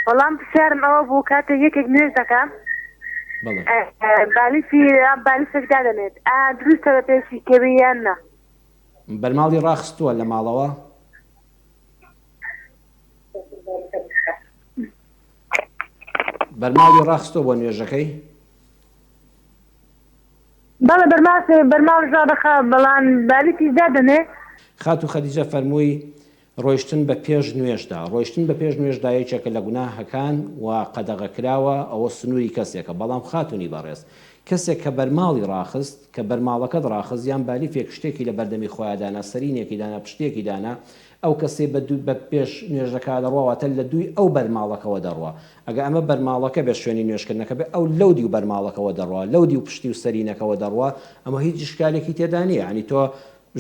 وەڵام پرسیارم ئەوە بوو کاتێک یەکێک نوێژ دەکا بالیسی بالیسێک دادەنێت ئا دروستە بە پێشی کەوی یان نا بەرماڵی ڕاخستووە لە ماڵەوە بەرماڵی ڕاخستۆ بۆ نوێژەکەی بەڵە بەرماسی بەرماڵ ژا دەخا بەڵان بالیسی دادەنێ خاتو خەدیجە فەرمووی ڕۆیشتن بە پێش نوێژدا، ڕۆیشتن بە پێش نوێژدا یەکێکە لە گوناهەکان و قەدەغەکراوە، ئەوە سنووری کەسێکە، بەڵام خاتوونی بەڕێز، کەسێک کە بەرماڵی ڕاخست، کە بەرماڵەکەت ڕاخست یان بالیفێک شتێکی لە بەردەمی خۆیا دانا، سەرینێکی دانا، پشتێکی دانا، ئەو کەسەی بە دوو، بە پێش نوێژەکە دەڕوا واتە لە دووی ئەو بەرماڵەکەوە دەڕوا، ئەگەر ئەمە بەرماڵەکە بێت شوێنی نوێژکردنەکە بێت ئەو لەو دیو بەرماڵەکەوە دەڕوا، لەو دیو پشتی و سەرینەکەوە دەڕوا، ئەمە هیچ ئیشکالێکی تێدا نییە، یانی تۆ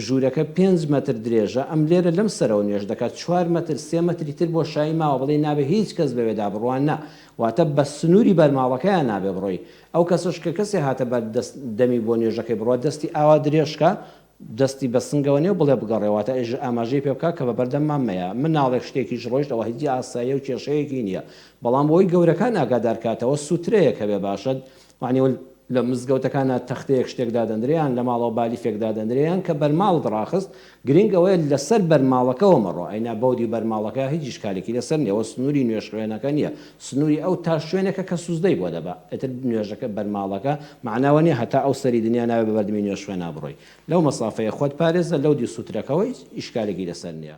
ژوورەکە پێنج مەتر درێژە، ئەم لێرە لەم سەرەوە نوێژ دەکات، چوار مەتر، سێ مەتری تر بۆشایی ماوە، بەڵی نابێ هیچ کەس بەوێدا بڕوان نا، واتە بە سنووری بەر ماڵەکەیا نابێ بڕۆی، ئەو کەسەش کە کەسێ هاتە بەر دەست دەمی بۆ نوێژەکەی بڕوا دەستی ئاوا درێژ کا دەستی بە سنگەوە نێ و بڵێ بگەڕێ، واتە ئێژە ئاماژەی پێ بکا کە بە بەردەم مان مەیە، مناڵێک شتێکیش ڕۆیشت ئەوە هیچ ئاساییە و کێشەیەکی نییە، بەڵام بۆی گەورەکان ئاگادار کاتەوە، سووترەیەک هەبێ باشە، یانی وەل لە مزگەوتەکانا تەختەیەک شتێک دادەندرێ یان لە ماڵەوە بالیفێک دادەندرێ یان کە بەرماڵت ڕاخست گرینگ ئەوەیە لە سەر بەرماڵەکەوە مەڕۆ ئەینا بەودی بەرماڵەکە هیچ ئیشکالێکی لە سەر نیە وە سنوری نوێژ خوێنەکە نیە سنوری ئەو تا شوێنێکە کە سوزدەی بۆ دەبا ئیتر نوێژەکە بەرماڵەکە مەعناوە نیە هەتا ئەو سەری دنیا ناوێ بە بەردمی نوێژ خوێنا بڕۆی لەو مەسافەیە خۆت پارێزە لەودی سوترەکەوە هیچ ئیشکالێکی لە سەر نیە.